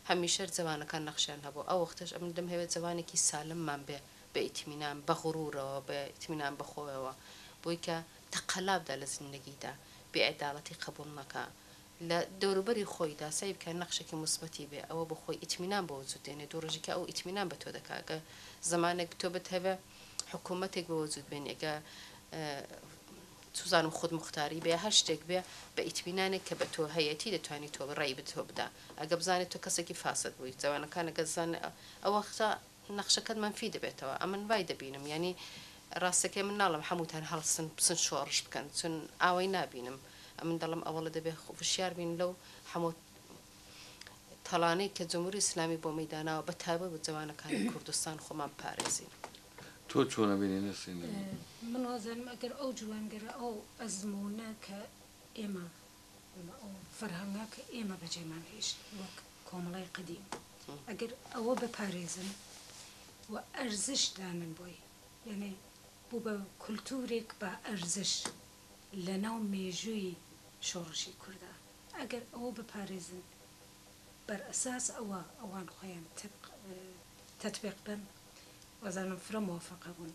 هەمیشە جەوانەکان نەخشیان هەبوو ئەو وەختەش ئەمن دەم هەوێ جەوانێکی سالممان بێ بە ئیتمینان بە غرورەوە بە ئیتمینان بە خۆیەوە بۆی کە تەقەلا بدە لە زیندەگیدا، بێعەداڵەتی قەبوڵ مەکە، لە دەوروبەری خۆیدا سەعی بکە نەخشێکی موسبەتی بێ، ئەوە بۆ خۆی ئیتمینان بۆ وجود دێنێ، دوو ڕۆژی کە ئەو ئیتمینان بە تۆ دەکا، گەر زمانێک تۆ بتهەوێ حکوومەتێک بە وجود بێنێ، گە چوزانم خودموختاری بێ، هەر شتێک بێ بە ئیتمینانێک کە بە تۆ هەیەتی دەتوانی تۆ ڕێی بە تۆ بدا، ئەگە بزانێ تۆ کەسێکی فاسد بووی، جەوانەکان ئەگە زانن ئەوەختا، نەخشەکەت مەنفی دەبێتەوە ئەمن وای دەبینم یانی ڕاستەکەی من ناڵم حەموتان هەڵسن بچن شۆڕش بکەن چون ئاوەی نابینم ئەمن دەڵم ئەوەڵە دەبێ وشیار بین لەو حەمۆ تەڵانەی کە جموری ئیسلامی بۆ مەی داناوە بە تایبەت بە جەوانەکانی کوردستان خۆمان بپارێزین. تۆ چۆن ئەبینی نەسرین نەبی؟ من وازانم ئەگەر ئەو جوانگەرە ئەو ئەزمونە کە ئێمە ئەو فەرهەنگە کە ئێمە بەجێمان هێشت وەک کۆمەڵی قەدیم ئەگەر ئەوە بەپارێزن و ئەرزش دانن بۆی یانێ بوو بە کولتورێک با ئەرزش لە ناو مێژووی شۆڕشی کوردا ئەگەر ئەوە بپارێزن بەر ئەساس ئەوە ئەوان خۆیان تەبق تەتبیق بن وازانم فرە مۆفەقە بوون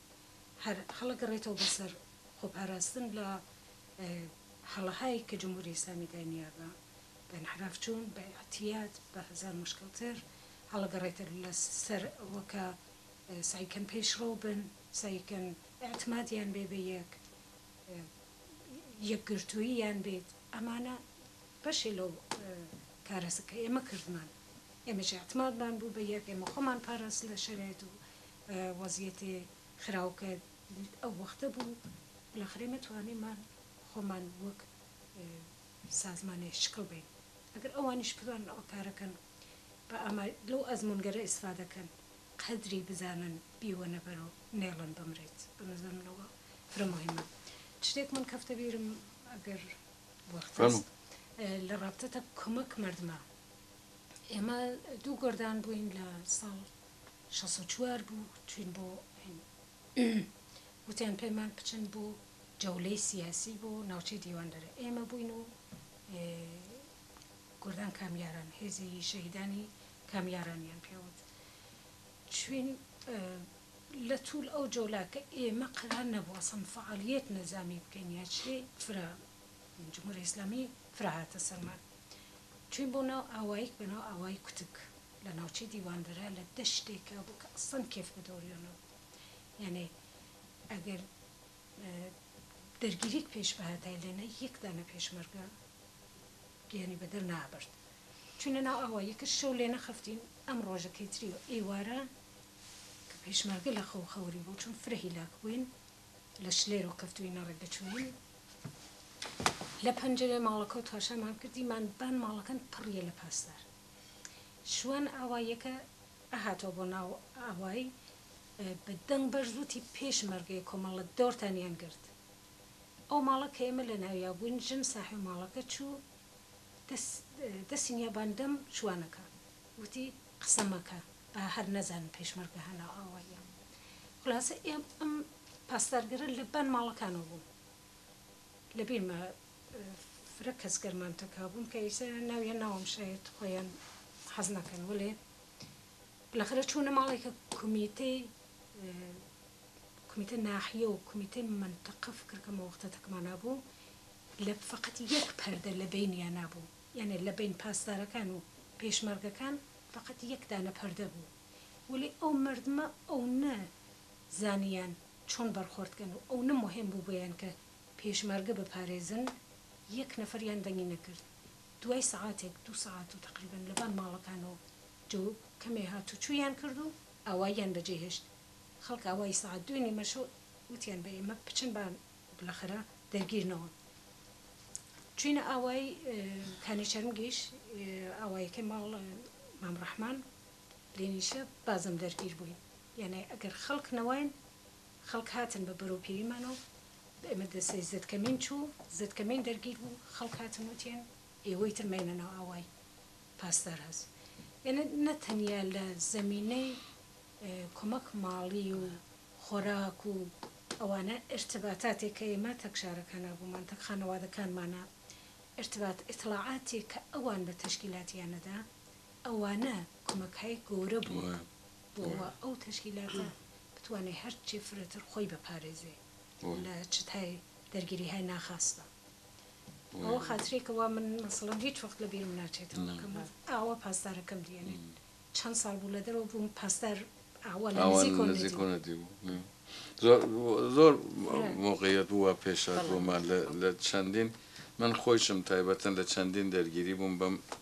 هەر هەڵەگەڕێتەوە بەسەر خۆپاراستن لە هەڵەهایی کە جمهوری ئیسلامی داینیا بە ئینحراف چوون بە ئیعتیاد بە هەزار موشکل تر هەڵە گەڕێتر لە سەر ئەوە کە سەعی کەن پێشڕەو بن سەعی کەن ئیعتمادیان بێ بە یەک یەکگرتووییان بێت ئەمانە بەشێ لەو کارەسە کە ئێمە کردمان ئێمەش ئیعتمادمان بوو بە یەک ئێمە خۆمان پاراست لە شەرایت و وەزیەتێ خراو کە برد ئەو وەختە بوو بلاخرە ئێمە توانیمان خۆمان وەک سازمانێ شکڵ بەین ئەگەر ئەوانیش بتوانن ئەو کارە کەن بە ئامای لەو ئەزموونگەرە ئیسفادە کەن قەدری بزانن بیوەنە بەرو نێڵن بمریت بەنەزەر من ئەوە فرە موهیمە چشتێک من کەفتە بیرم ئەگەر وەخت هەست لە ڕابتەتە کۆمەک مەردمە ئێمە دوو گۆردان بووین لە ساڵ شەست و چوار بوو چوین بۆ وتیان پێمان بچن بۆ جەولەی سیاسی بۆ ناوچەی دیواندەرە ئێمە بووین و گردان کامیاران هێزی شەهیدانی کامیارانیان پێوت چوین لە توول ئەو جۆلاکە ئێمە قەرار نەبووە سم فعالیت نەزامی بکەین یا چێ فرە جمهوری ئیسلامی فراهاتە سەرمان چوین بۆ ناو ئاواییک بە ناو ئاوای کوتک لە ناوچەی دیواندەرە لە دەشتێکا بوو کە ئەسڵەن کێف بە دۆریۆ نەبوو یانێ ئەگەر دەرگیریک پێش بهاتای لێنە یەک دانە پێشمەرگە گیانی بە دەر نابرد چونە ناو ئاوا یەکە شەو لێ نەخەفتین ئەم ڕۆژە کەیتری و ئێوارە کە پێشمەرگە لە خەو خەوری بوو چون فرە هیلاک بووین لە شلێرۆ کەفتوینە ڕێک دەچووین لە پەنجەرەی ماڵەکەو تاشامان کردیمان بان ماڵەکەن پڕیە لە پاسدار شوان ئاواییەکە ئەهاتەوە بۆ ناو ئاوای، بە دەنگ بەرز وتی، پێشمەرگەی کۆمەڵە دۆڕتانیان گرت. ئەو ماڵە کە ئێمە لە ناویا بووین، ژن ساحێ ماڵەکە چوو دەست دەستی نیابان دەم شوانەکە، وتی، قسە مەکە، با هەر نەزانن پێشمەرگە هەناو ئاواییە. خولاسە ئێم ئەم پاسدارگەرە لە بان ماڵەکانەوە بوو. لە بیرمە فرە کەس گەرمان تەکا بوون کە ئیسە ناویان ناوەم شایەد خۆیان حەز نەکەن وەلێ بلەخرە چوونە ماڵێکە کومیتەی کومیتە ناحیە و کومیتەی منتەقە فکر کەمە وەختە تەکمانا بوو لە فقط یەک پەردە لە بینیان نابوو یانێ لە بین پاسدارەکان و پێشمەرگەکان فقط یەک دانە پەردە بوو وەلێ ئەو مەردمە ئەونە زانیان چۆن بەرخۆرد کەن و ئەونە موهیم بوو بۆیان کە پێشمەرگە بپارێزن یەک نەفەریان دەنگی نەکرد دوای سەعاتێک دوو سەعات و تەقریبەن لەبان ماڵەکانەوە جەو کەمێ هاتوچویان کرد و ئاواییان بەجێ هێشت خەڵک ئاوایی سەعات دوێ نیمە شەو وتیان بە ئێمە بچن با بلەخرە دەرگیر نەوە چوینە ئاوایی کانیچەرمگیش ئاواییەکەی ماڵ مام رەحمان. لێنیشە بازم دەرگیر بووین یانێ ئەگەر خەڵک نەواین خەڵک هاتن بە بەرەو پێیمان و بە ئێمە دەسێ زەدکەمین چوو زەدکەمین دەرگیر بوو خەڵک هاتن وتیان ئێوەی تر مەینە ناو ئاوای پاسدار هەس یانێ نە تەنیا لە زەمینەی کۆمەک ماڵی و خۆراک و ئەوانە ئێرتباتاتێ کە ئێمە تەک شارەکانا بوومان تەک خانەوادەکانمانا ئێرتبات ئێتڵاعاتێ کە ئەوان بە تەشکیلاتیانەدا ئەوانە کۆمەکهای گەورە بووە بۆوە ئەو تەشکیلاتە بتوانێ هەرچی فرەتر خۆی بپارێزێ لە چتهای دەرگیریهای ناخاستا بەوە خاترەی کە وا من مەسەڵەن هیچ وەخت لە بیرم ناچێتەوە کە من ئاوا پاسدارەکەم دیەنێت چەند ساڵ بوو لە دەرەوە بووم پاسدار ئاوا لە نزیکەوە نەدیبوو زۆر زۆر مۆقعیەت بوو وا پێشهات بۆمان لە چەندین من خۆیشم تایبەتەن لە چەندین دەرگیری بووم بەم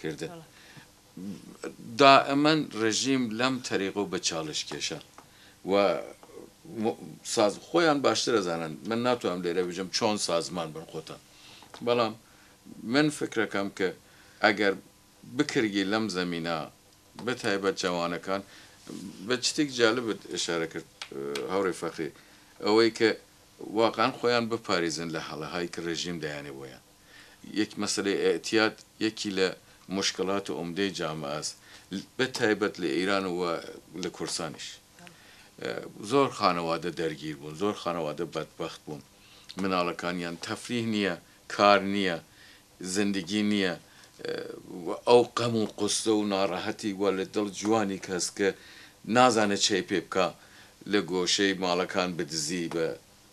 کردن دائمەن ڕێژیم لەم تەریق و بەچاڵشکێشە و ساز خۆیان باشتر ئەزانن من ناتوانم لێرە بژم چۆن سازمان بن خۆتان بەڵام من فکرەکەم کە ئەگەر بکرگی لەم زەمینە بەتایبەت جەوانەکان بە چتێک جالبت ئشارە کرد هاوڕێ فەخری ئەوەی کە واقعەن خۆیان بپاریزن لە هەڵەهایی کە ڕێژیم دەیانێ بۆیان. یەک مەسەلەی ئیعتیاد یەکی لە موشکلات و عومدەی جامەئەس بە تایبەت لە ئیران و لە کوردستانیش زۆر خانەوادە دەرگیر بوون زۆر خانەوادە بەدبەخت بوون مناڵەکانیان تەفریه نییە کار نییە زندگی نییە و ئەو قەم و قوسسە و ناڕەحەتی وا لە دڵ جوانیک هەس کە نازانێ چەی پێ بکا لە گۆشەی ماڵەکان بدزی بە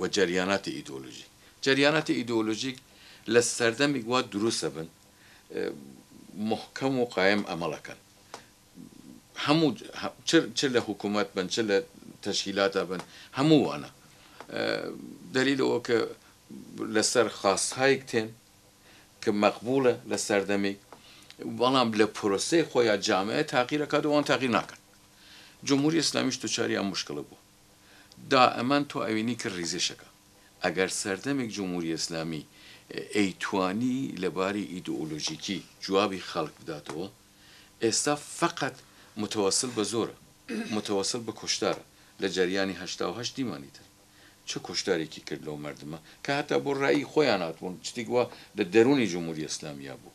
و جەریاناتی ئیدۆلۆژیک جەریاناتی ئیدۆلۆژیک لە سەردەمیک وا دروست ئەبن موحکەم و قایم ئەمەڵ ئەکەن هەموو چ لە حکوومەت بن چ لە تەشکیلاتە بن هەموو وانە دەلیل ئەوە کە لەسەر خاستهایک تێن کە مەقبوڵە لە سەردەمیک بەڵام لە پرۆسەی خۆیان جامعە تاقیرەکات وان تاقی ناکەن جمهوری ئیسلامیش دوچاری ئەم مشکلە بوو دائەمان تۆ ئەوینی کە ریزێشەکە ئەگەر سەردەمێک جمهوری ئێسلامی ئەیتوانی لە باری ئیدئۆلۆژیکی جوابی خەڵک بداتەوە ئێستا فەقەت متەوەسل بە زۆرە متەوەسل بە کۆشتارە لە جەریانی هەشتا و هەشت دیمانی تر چ کۆشتارێکی کرد لەو مەردمە کە هەتا بۆ رایی خۆیان هاتبوون چتێک وا لە دەرونی جمهوری ئێسلامیا بوو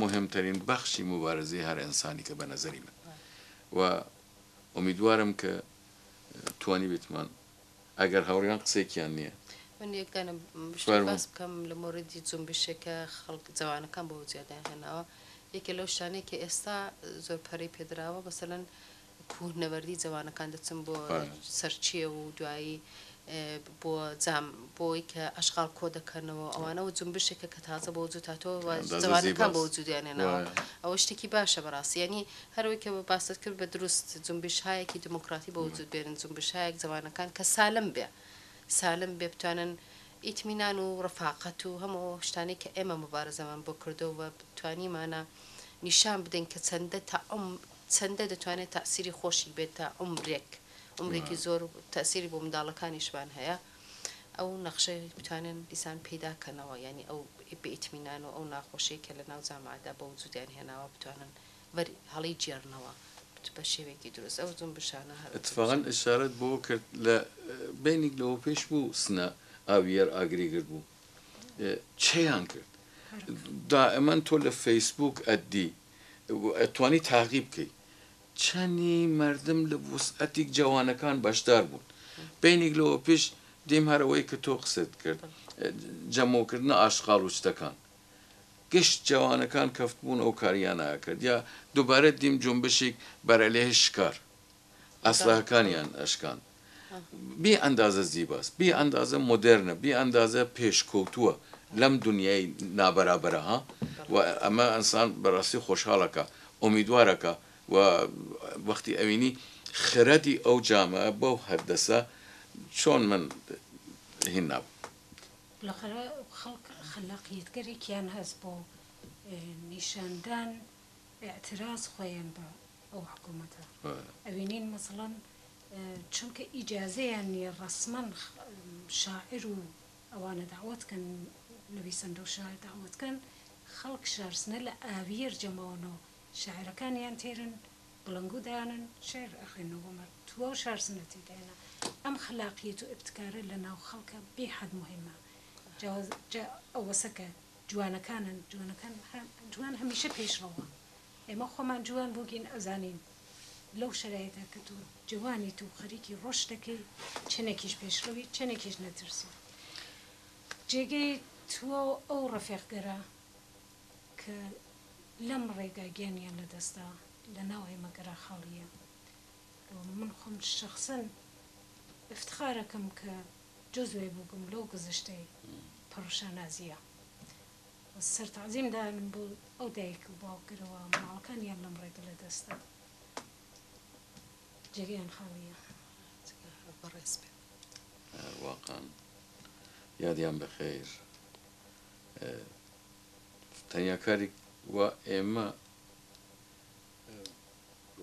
موهمترین بەخشی موبارزەی هەر ئێنسانیکە بە نەزەری من و ئومیدوارم کە توانیبێتمان ئەگەر هاوڕێیان قسێکیان نییە من یەک دانە شوار بووم. باس بکەم لە مۆردی جنبشێکە خەڵک جەوانەکان بۆ جیادیان هێناوە یەکێ لەو شتانەی کە ئێستا زۆر پەرەی پێدراوە مەسەلەن کوهنەوەردی جەوانەکان دەچم بۆ سەرچێو و دوایی بۆ جام بۆی کە ئەشغاڵ کۆ دەکەنەوە ئەوانە و جنبشێکە کە تازە بۆ وجود هاتووە و جەوانەکان بۆ وجودیان هێناوە ئەوە شتێکی باشە بەڕاستی یانی هەروەی کە باست کرد بە دروست جنبشهایەکی دیموکراتی بۆ وجود بێنن جنبشهایەک جەوانەکان کە سالم بێ سالم بێ بتوانن ئیتمینان و ڕەفاقەت و هەموو ئەو شتانەی کە ئێمە موبارەزەمان بۆ کردووە و توانیمانە نیشان بدەین کە چەندە تەعم چەندە دەتوانێت تاسیری خۆشی بێت تا عومرێک عومرێکی زۆر تاسیری بۆ منداڵەکانیشمان هەیە ئەو نەخشەی بتوانن دیسان پیدا کەنەوە یانی ئەو بئیتمینان و ئەو ناخۆشی کە لە ناو جامادا بە وجودیان هێناوە بتوانن وەر هەڵی جێڕنەوە بە شێوەیەکی دروست ئەو زوم بشانە هەر اتفاقا اشارەت بۆ کرد لە بینیک لەوە پێش بوو سنە ئاوی یەر ئاگری گرت بوو چیان کرد دائمەن تۆ لە فەیسبووک ئەدی توانی تاقی بکەی چەنی مەردم لە وسعەتیگ جەوانەکان بەشدار بوون بەینیگ لەوە پیش دیم هەر ئەوەی ک تۆ قسەت کرد جەمەو کردنە ئاشقاڵ و چتەکان گشت جەوانەکان کەفتبوون ئەو کاریانە ئەکرد یا دوبارە دیم جونبشیگ بەرەلێ شکار ئەسلحەکانیان ئەشکاند. بێ ئەندازە زیباس، بێ ئەندازە مۆدێرنە، بێ ئەندازە پێشکەوتووە لەم دونیای نابەرابەرە ها و ئەمە ئەنسان بەراستی خۆشحاڵ ئەکا، ئۆمیدوار ئەکا و وەختی ئەوینی خرەدی ئەو جامە بەو هەردەسە چۆن من هین نابم. بالاخرە خەڵک خلاقیەتگەرێکیان هەس بۆ نیشاندان. اعتراز خۆیان بە ئەو حکومەتە ئەوینین مەسڵەن چونکە ئیجازەیان نیە ڕەسمەن شاعر و ئەوانە دەعوەت کەن نویسەندە و شاعر دەعوەت کەن خەڵک شارسنە لە ئاویەر جەماوەنە و شاعرەکانیان تێرن بڵنگو دانن شعر ئەخوێنن و بەمە تواو شارسنە تێدایە ئەم خلاقیەت و ئبتکارە لە ناو خەڵکە بێ حەد موهیمە جا ئەوەسە کە جوانەکانن جوانەکان جوان هەمیشە پێش ڕەوە ئێمە خۆمان جوان بوگین ئەزانین لەو شەرایتە کە تۆ جوانیت و خەریکی ڕۆشت دەکەی چەنێکیش پێشڕەوی چەنێکیش نەترسی جێگەی تووە و ئەو ڕەفێقگەرە کە لەم ڕێگا گیانیان لەدەستدا لەناو ئێمە گەرا خاڵییە و من خۆم شەخسەن افتخارەکەم کە جوز وێ بوگم لەو گوزشتەی پڕ شانازیە سەر تەعزیم دانم بۆ ئەو دایک و باوکەرەوە ماڵەکانیان لەم ڕێگە لە دەستدا جێگەیان خالیە بەڕێز بێ واقان یادیان بەخێر تەنیا کاری و ئێمە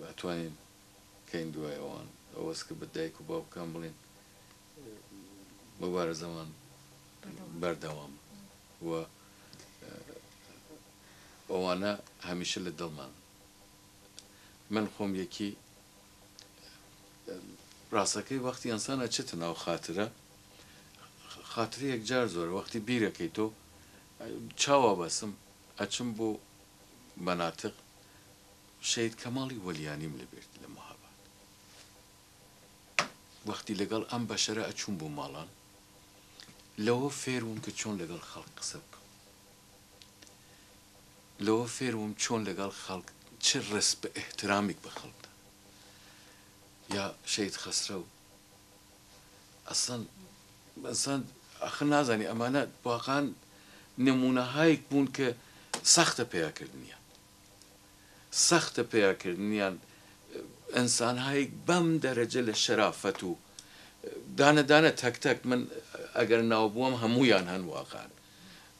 ئەتوانین کەین دوایەوان ئەوەس کە بە دایک و باوکان بڵین مبارزەمان بەردەوام و ئەوانە هەمیشە لە دڵمان من خۆم یەکی ڕاستەکەی وەختی ئەنسانە چێت ناو خاترە خاتری یەکجار زۆر وەختی بیرەکەی تۆ چاوا بەسم ئەچم بۆ مەناتق شید کەماڵی وەلیانیم لەبێت لە مەهاباد وەختی لەگەڵ ئەم بەشەرە ئەچووم بۆ ماڵان لەوە فێروم کە چۆن لەگەڵ خەڵک قسە بکەم لەوە فێروم چۆن لەگەڵ خەڵک چ ڕست بە احترامیک بە خەڵکدا یا شەید خەسرە و ئەسڵەن ئەسڵەن ئەخر نازانی ئەمانە واقعان نمونەهایەک بوون کە سەختە پیاکردنیان سەختە پەیا کردنیان ئەنسان هایک بەم دەرەجە لە شەرافەت و دانە دانە تەک تەک من ئەگەر ناو بووم هەموویان هەن واقعەن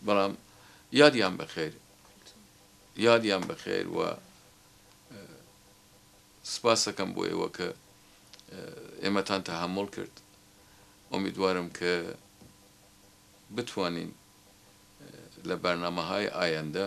بەڵام یادیان بەخێر یادیان بەخێر و سپاسەکەم بۆ ئێوە کە ئێمەتان تەحمل کرد ئۆمیدوارم کە بتوانین لە بەرنامەهای ئایەندە